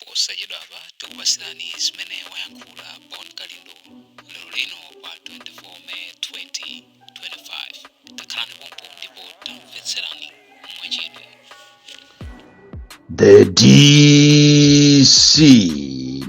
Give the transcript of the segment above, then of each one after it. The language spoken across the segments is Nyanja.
Posachedwapa tikupatsirani zimene wayankhula Bon Kalindo lero lino pa 24 May 2025. Takhalani pompo ndipo tamvetserani mwachidwi. The DC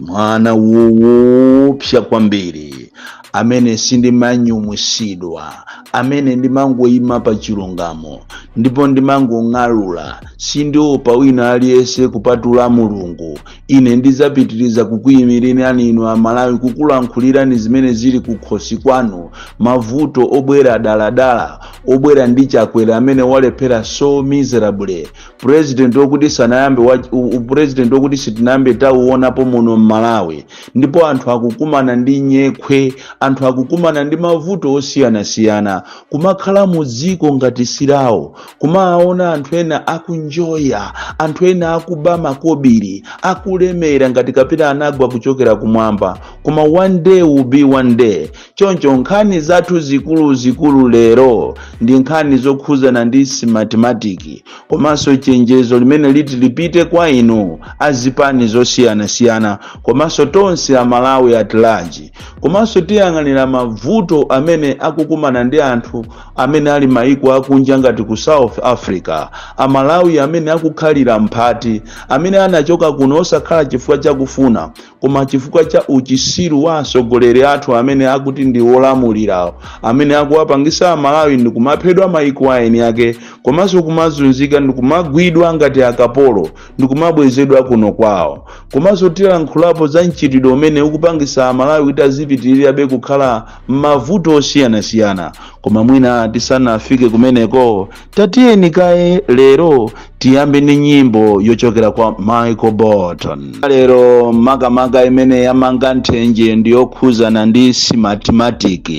mwana oopsa kwambiri amene sindimanyumwisidwa amene ndimangoyima pa chilungamo ndipo ndimangong'alula sindiopa wina aliyense kupatula mulungu ine ndidzapitiriza kukuyimirirani inu aMalawi kukulankhulirani zimene zili kukhosi kwanu mavuto obwera daladala obwera ndi chakwera amene walephera so miserable president okuti sanayambe wa- u- u- president okuti sitinayambe tauonapo muno m'Malawi ndipo anthu akukumana ndi nyekhwe anthu akukumana ndi mavuto osiyanasiyana kumakhala mu dziko ngati silawo kumaona anthu ena akunjoya anthu ena akuba makobiri akulemera ngati kapena anagwa kuchokera kumwamba koma one day will be one day choncho nkhani zathu zikuluzikulu lero ndi nkhani zokhuzana ndi Smartmatic komanso chenjezo limene liti lipite kwa inu azipani zosiyanasiyana komanso tonse amalawi at large komanso tiyang'anira mavuto amene akukumana ndi anthu amene ali maiko akunja ngati ku south africa amalawi amene akukhalira mphati amene anachoka kuno osakhala chifukwa chakufuna koma chifukwa cha uchisiru wa atsogoleri athu amene akuti ndi olamulirawo amene akuwapangisa amalawi ndi kumaphedwa maiko a eni ake komanso kumazunzika ndi kumagwidwa ngati akapolo ndi kumabwezedwa kuno kwawo komanso tilankhulapo za mchitidwe umene ukupangisa amalawi kuti azipitirirabe kukhala m'mavuto osiyanasiyana koma mwina tisanafike kumeneko tatiyeni kaye lero tiyambe ndi nyimbo yochokera kwa michael bolton lero makamaka imene yamanga nthenje ndi yokhuzana ndi Smartmatic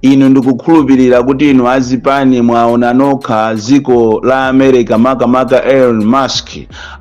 inu ndikukhulupirira kuti inu azipani mwaona nokha dziko la america makamaka elon musk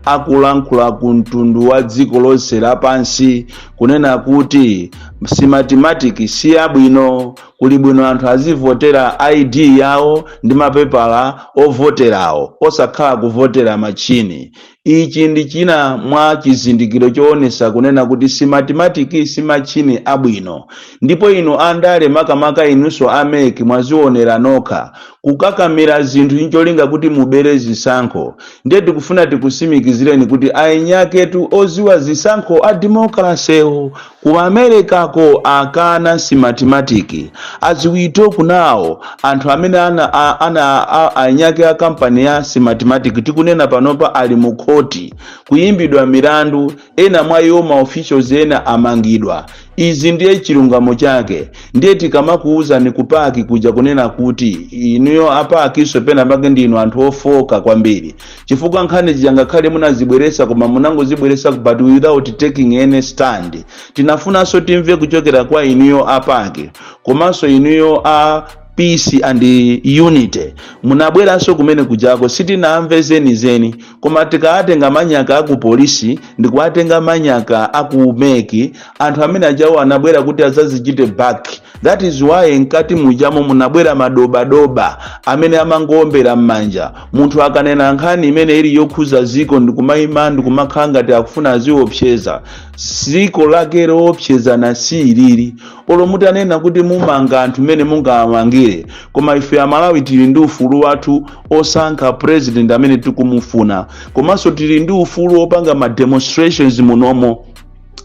akulankhula ku mtundu wa dziko lonse lapansi kunena kuti Smartmatic si yabwino Kuli bwino anthu azivotera ID yawo ndi mapepala ovoterawo osakhala kuvotera matchini. Ichi ndi china mwa chizindikiro choonesa kunena kuti Smartmatic si matchini abwino. Ndipo inu andale makamaka inunso a MEC mwazionera nokha. Kukakamira zinthu ncholinga kuti mubere zisankho. Ndiye tikufuna tikusimikizireni kuti eni aketu oziwa zisankho a democracy wo. Ku America ko akana Smartmatic as we talk now anthu amene ana a eni ake a company ya Smartmatic tikunena panopa ali mu khoti kuyimbidwa milandu ena mwa iwo ma officials ena amangidwa izi ndiye chilungamo chake ndiye tikamakuwuzani ku PAC kuja kunena kuti inuyo a PAC nso pena pake ndinu anthu ofooka kwambiri chifukwa nkhani zija ngakhale munazibweresa koma munangozibweresa but without taking any stand tinafunanso timve kuchokera kwa inuyo a PAC komanso inuyo a peace and unity munabweranso kumene kujako sitinamve zenizeni koma tikawatenga manyaka aku polisi ndikuwatenga manyaka aku MEC anthu amene ajawo anabwera kuti azazichite back That is why mkati mujamo munabwera madobadoba amene amangoombera m'manja munthu akanena nkhani imene ili yokhuza ziko ndikumayima ndikumakhala ngati akufuna aziopseza ziko lake lowopsezana si ilili olo mutanena kuti mumanga anthu mmene mungawamangire koma ife amalawi tili ndi ufulu wathu osankha president amene tikumufuna komanso tili ndi ufulu opanga ma demonstrations munomo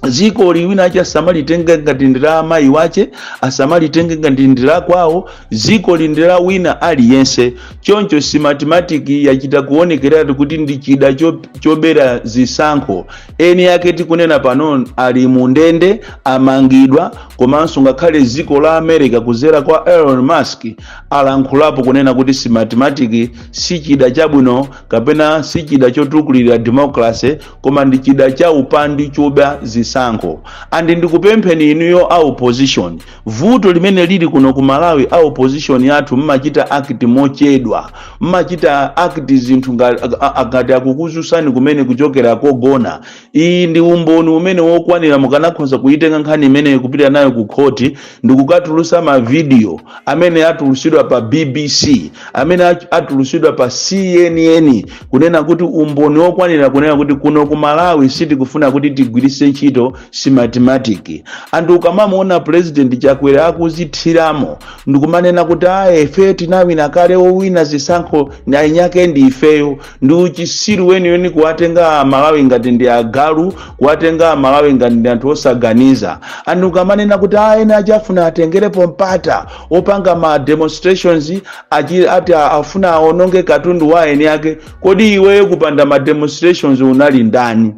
ziko ili wina wake asamalitenge ngati ndi la amayi wake asamalitenge ngati ndi la kwawo ziko ili ndi la wina aliyense choncho Smartmatic yachita kuonekeratu kuti ndi chida cho- chobera zisankho eni yake tikunena pano ali mu ndende amangidwa komanso ngakhale ziko la america kuzera kwa elon musk alankhulapo kunena kuti Smartmatic si chida chabwino kapena si chida chotukulira democracy koma ndi chida cha upandu choba zisankho and ndikupempheni inuyo a opposition vuto limene lili kuno ku malawi a opposition yathu mmachita act mochedwa mmachita act zinthu nga- a- a- ngati akukuzusani kumene kuchokera kogona iyi ndi umboni umene wokwanira mukanakhoza kuyitenga nkhani imeneyo kupita nayo ku khoti ndikukatulusa mavidiyo amene atulusidwa pa bbc amene ach- atulusidwa pa cnn kunena kuti umboni wokwanira kunena kuti kuno ku malawi sitikufuna kuti tigwiritse ntchito Smartmatic and ukamamuona purezidenti chakwera akuzithiramo ndikumanena kuti aa ife tinawina kale owina zisankho eni yake ndi ifeyo ndi uchisiru weniweni kuwatenga amalawi ngati ndi agalu kuwatenga amalawi ngati ndi anthu osaganiza and ukamanena kuti aa ena ake afuna atengerepo mpata opanga ma demonstrations achi- ati a- afuna aononge katundu wa eni ake kodi iweyo kupanda ma demonstrations unali ndani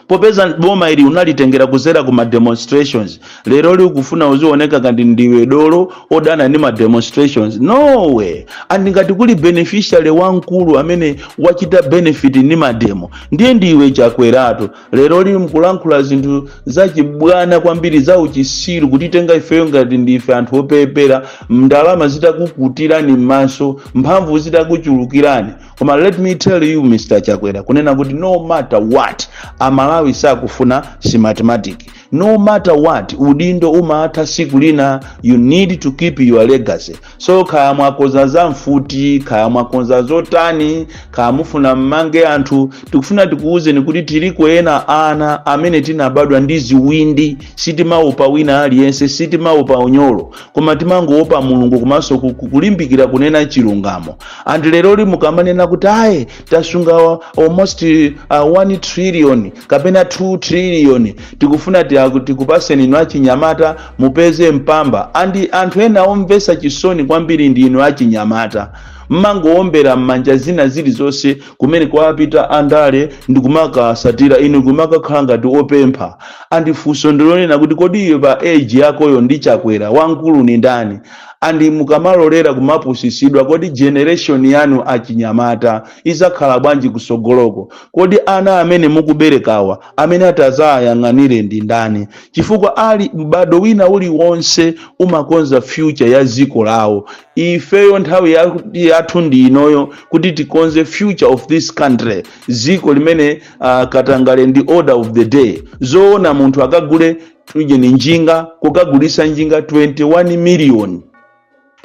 popeza boma ili unalitengera kuzera ku ma demonstrations leroli ukufuna uzioneka ngati ndiwe dolo odana ndi ma demonstrations no way and ngati kuli beneficiary wamkulu amene wachita benefit ndi mademo ndiye ndiwe chakweratu lero li mkulankhula zinthu zachibwana kwambiri za uchisiru kutitenga ifeyo ngati ndife anthu opepera ndalama zitakukutirani m'maso mphamvu zitakuchulukirani koma let me tell you mr chakwera kunena kuti no matter what amalawi sakufuna si mathematics no matter what udindo umaatha siku lina you need to keep your legacy so kaya mwakonza za mfuti kaya mwakonza zotani kaya mufuna mmange anthu tikufuna tikuwuzeni kuti tiliko enaana amene tinabadwa ndi ziwindi sitimaopa wina aliyense sitimaopa unyolo koma timangoopa mulungu komanso ku- ku- kulimbikira kunena chilungamo and leroli mukamanena kuti aye tasunga wa- almost uh, 1 trillion kapena 2 trillion tikufuna tiaku- tikupaseni inu achinyamata mupeze mpamba andi anthu ena omvesa chisoni kwambiri ndi inu achinyamata mmangowombera m'manja zina zilizonse kumene kwapita andale ndikumakasatira inu kumakakhala ngati opempha andi funso ndilonena kuti kodi iwe pa age yakoyo ndi chakwera wamkulu ni ndani andi mukamalolera kumapusisidwa kodi generation yanu achinyamata izakhala bwanji kusogoloko kodi ana amene mukuberekawa amene atazayang'anire ndi ndani chifukwa ali m'bado wina uliwonse umakonza future ya ziko lawo ifeyo nthawi ya- yathu ndi inoyo kuti tikonze future of this country ziko limene uh, katangale ndi order of the day zoona munthu akagule tujeni njinga kukagulisa njinga 21 million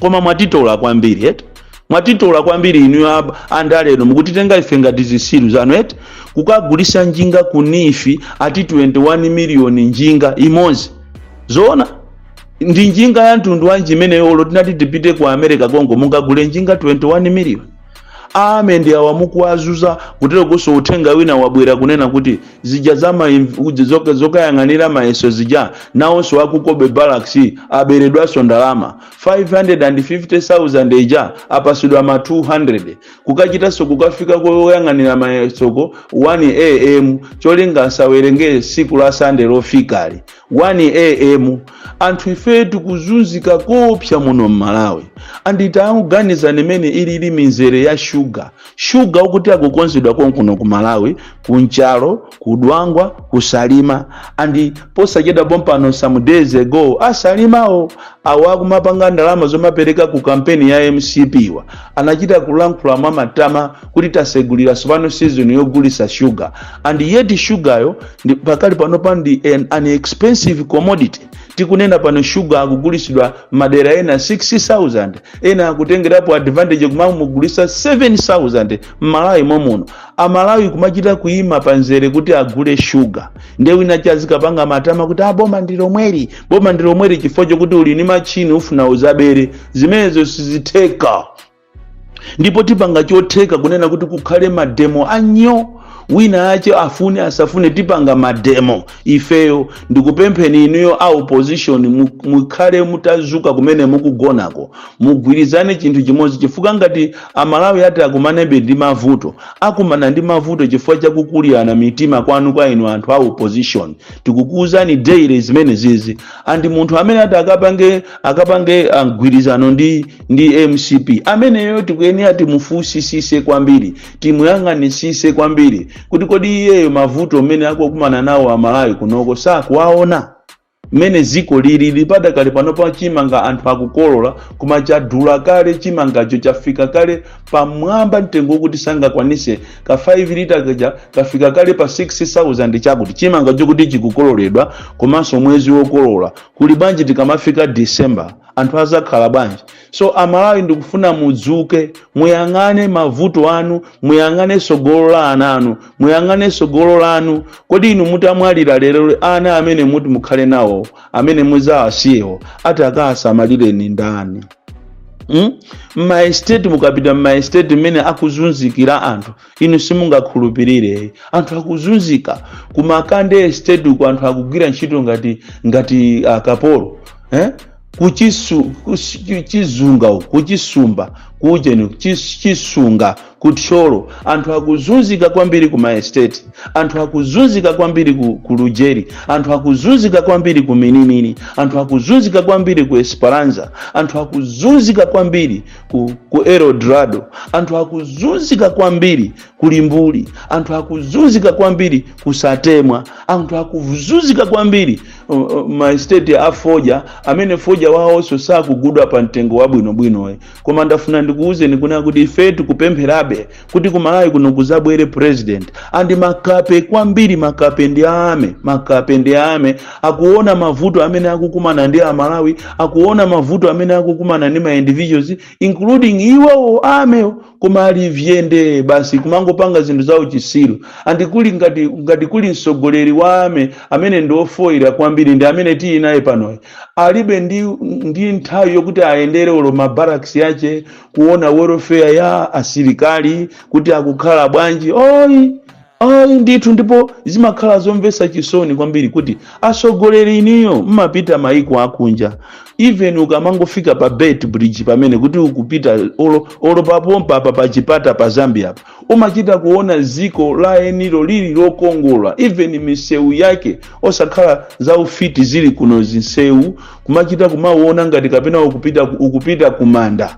koma mwatitola kwambiri eti mwatitola kwambiri inu ab- andale inu mukutitenga ife ngati zisiru zanu eti kukagulisa njinga ku NEEF ati 21 miliyoni njinga imodzi zoona ndi njinga ya mtundu wanji imeneyo olo tinati tipite ku america komko mungagule njinga 21 miliyoni ame ndi awa mukuwazuza kutero kunso uthenga wina wabwera kunena kuti zija za maimv- uja zoka- zokayang'anira mayeso zija nawonso a ku Cobbe barracks aberedwanso ndalama 550000 ija apasidwa ma 200 kukachitanso kukafika koyang'anira mayesoko 1 am cholinga asawerenge siku la sande lofikali 1AM anthu ife tikuzunzika koopsa muno m'Malawi and tangoganizani mmene ilili mizere ya shuga shuga woti akukonzedwa konkuno ku Malawi ku Nchalo ku Dwangwa ku Salima and posachedwa pompano some days ago a Salimawo awa akumapanga ndalama zomapereka ku kampeni ya mcp wa anachita kulankhula mwa matama kuti tasegulira tsopano season yogulisa sugar and yet sugar yo ndi pakali pano pa ndi an, an expensive commodity tikunena pano sugar akugulisidwa madera ena 6000 ena akutengerapo advantage kumamugulisa 7000 mmalawi momuno amalawi kumachita kuima panzere kuti agule sugar nde wina chazikapanga matama kuti boma ndi lomweli boma ndi lomweli chifukwa chokuti uli ni machini ufuna uzabere zimenezo sizitheka ndipo tipanga chotheka kunena kuti kukhale mademo anyo wina ache afune asafune tipanga mademo ifeyo ndikupempheni inuyo a opposition mu- mukhale mutazuka kumene mukugonako mugwirizane chinthu chimodzi chifukwa ngati amalawi ati akumanebe ndi mavuto akumana ndi mavuto chifukwa chakukulirana mitima kwanu kwa inu anthu a opposition tikukuuzani daily zimene zizi and munthu amene ati akapange akapange ah, mgwirizano ndi ndi mcp ameneyo tikuyenera timufunsisise kwambiri timuyang'anisise kwambiri kuti kodi iyeyo mavuto amene akukumana nawo amalawi kunoko sakuwaona mmene dziko lili padakali pano pa chimanga anthu akukolola koma chadula kale chimangacho chafika kale pamwamba mtengo wokuti sangakwanise ka 5 lita kaja kafika kale pa 6000 chakuti chimanga chokuti chikukololedwa komanso mwezi wokolola kuli bwanji tikamafika december anthu azakhala bwanji so amalawi ndikufuna mudzuke muyang'ane mavuto anu muyang'ane sogolo la ana anu muyang'ane sogolo lanu kodi inu mutamwalira lero ana amene muti mukhale nawo amene muzawasiyewo ati akawasamalireni ndani mm? mmaestate mukapita mmaestate mmene akuzunzikira anthu inu simungakhulupirire anthu akuzunzika kumakandi estate uko anthu akugwira ntchito ngati ngati akapolo eh? kuchisu kusi- chizunga uko kuchisumba kujeni chis- chisunga kuthyolo anthu akuzunzika kwambiri ku maesteti anthu akuzunzika kwambiri ku, ku lujeri anthu akuzunzika kwambiri ku minimini anthu akuzunzika kwambiri ku esperanza anthu akuzunzika kwambiri ku, ku eldorado anthu akuzunzika kwambiri kulimbuli anthu akuzunzika kwambiri kusatemwa anthu akuzunzika kwambiri uh, uh, maesteti a foja amene foja wawonso sakugudwa pa mtengo wabwinobwinoyi koma ndafuna ndikuwuzeni kunena kuti ife tikupempherabe kuti ku malawi kuno kuzabwere president and makape kwambiri makape ndi a army makape ndi a army akuona mavuto amene akukumana ndi amalawi akuona mavuto amene akukumana ndi ma individuals including iwowo a army wo koma ali vyende basi kumangopanga zinthu za uchisiru and kuli ngati, ngati kuli mtsogoleri wa army amene ndi ofoyira kwambiri ndi amene tili naye panoyi alibe ndi, ndi nthawi yokuti ayendere olo mabaraks yache kuona welfare ya asilikali kuti akukhala bwanji oyi ayi ndithu ndipo zimakhala zomvetsa chisoni kwambiri kuti atsogoleri iniyo mmapita maiko akunja even ukamangofika pa beit bridge pamene kuti ukupita olo, olo pompa apa pa chipata pa zambia apa umachita kuona dziko la enilo lili lokongola even misewu yake osakhala za ufiti zili kuno zinsewu kumachita kumauona ngati kapena ukupita, ukupita kumanda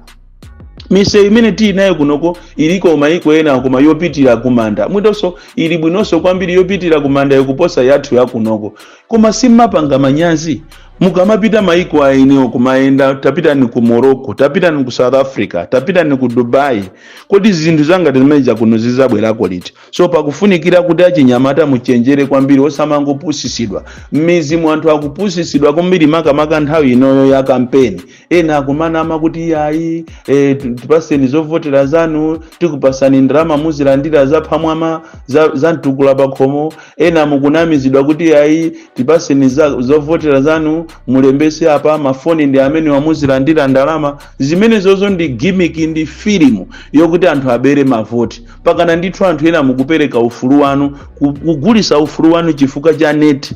misewu imene tili nayo kunoko iliko maiko ena koma yopitira kumanda mwinanso ili bwinonso kwambiri yopitira kumanda yokuposa yathu yakunoko koma simupanga manyazi mukamapita maiko a eniwo kumayenda tapitani ku morocco tapitani ku south africa tapitani ku dubai Kodi zinthu zangati zimene zija kuno zizabwerako liti? So pakufunikira kuti achinyamata muchenjere kwambiri osamangopusitsidwa. M'midzi mu anthu akupusitsidwa kwambiri makamaka nthawi inoyo ya kampeni. Ena akumanama kuti iyayi eh, tu- tipaseni zovotera zanu tikupasani ndalama muzilandira zaphamwama za, za mtukula pakhomo. Ena mukunamizidwa kuti iyayi tipaseni za, zovotera zanu mulembese apa mafoni ndi amene muzilandira ndalama zimenezozo ndi gimiki ndi filimu yokuti anthu abere mavoti pakana ndithu anthu ena mukupereka ufulu wanu ku- kugulisa ufulu wanu chifukwa cha neti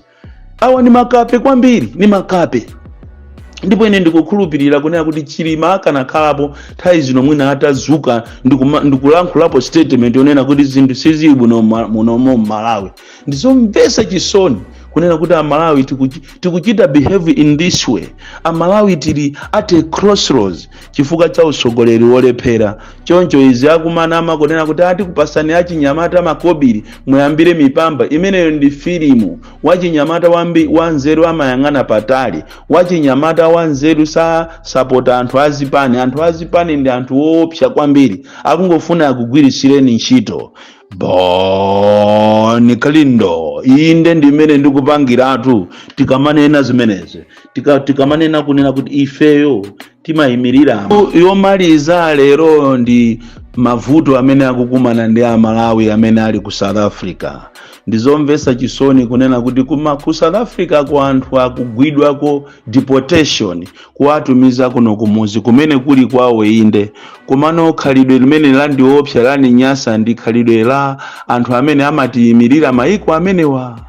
awa ni makape kwambiri ni makape ndipo ine ndikukhulupirira kunena kuti chilima akanakhalapo nthawi zino mwina atazuka ndikuma- ndikulankhulapo statement yonena kuti zinthu sizili bwino mma- muno mu malawi ndizomvetsa chisoni kunena kuti amalawi tikuchi- tikuchita behave in this way amalawi tili at a crossroads chifukwa cha utsogoleri wolephera choncho izi akumanama kunena kuti ati tikupasani achinyamata makobiri muyambire mipamba imeneyo ndi filimu wachinyamata wambi wanzeru amayang'ana patali wachinyamata wanzeru sasapota anthu azipani anthu azipani ndi anthu woopsa kwambiri akungofuna akugwiritsireni ntchito boni kalindo inde ndimene ndikupangiratu tikamanena zimenezi Tika- tikamanena kunena kuti ifeyo timayimirira yomaliza lero ndi mavuto amene akukumana ndi amalawi amene ali ku south africa ndizomvesa chisoni kunena kuti kuma ku south africa ku anthu akugwidwako deportation kuwatumiza kuno kumudzi kumene kuli kwawo inde komano khalidwe limene landiopsa laninyasa ndi khalidwe la anthu amene amatiyimirira maiko amenewa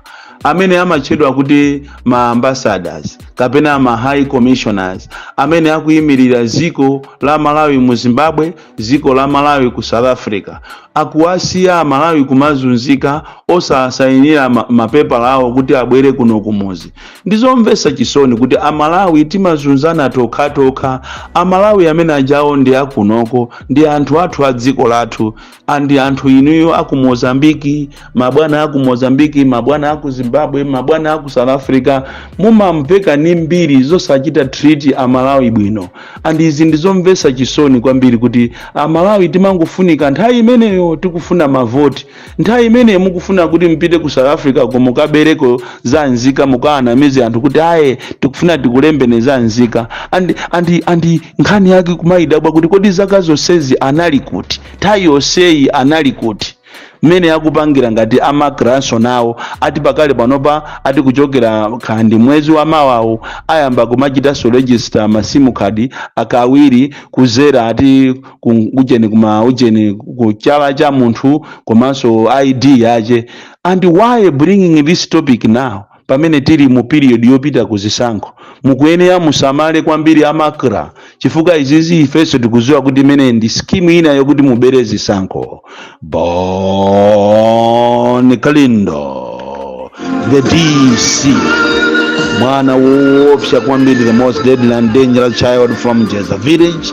amene amatchedwa kuti ma ambassadors kapena ma high commissioners amene akuyimirira dziko la malawi mu zimbabwe dziko la malawi ku south africa akuwasiya amalawi kumazunzika osasayinira ma- mapepala awo kuti abwere kuno kumuzi ndizomvesa chisoni kuti amalawi timazunzana tokhatokha amalawi amene ajawo ndi akunoko ndi anthu athu a dziko lathu and anthu inuyo aku mozambiki mabwana aku mozambiki mabwana aku zimbabwe mabwana aku south africa mumamveka ni mbiri zosachita treat amalawi bwino and izi ndizomvesa chisoni kwambiri kuti amalawi timangofunika nthawi imeneyo tikufuna mavoti nthawi imeneyo mukufuna kuti mupite ku south africa ko mukabereko za nzika mukawanamize anthu kuti ayi tikufuna tikulembene za nzika and, and, and nkhani yake kumayidabwa kuti kodi zaka zonsezi anali kuti nthawi yonseyi anali kuti mmene akupangira ngati a macranso nawo ati pakali panopa ati kuchokera kaya ndi mwezi wa mawawu ayamba kumachitanso register masimu khadi kachiwiri kuzera ati ku- ujeni kuma ujeni ku chala cha munthu komanso id yache and why bringing this topic now pamene tili mu period yopita ku zisankho mukuyenera musamale kwambiri a macra chifukwa izizi ifenso tikuziwa kuti imeneyi ndi scheme ina yokuti mubere zisankho bon kalindo the dc mwana woopsa kwambiri the most deadly and dangerous child from jeza village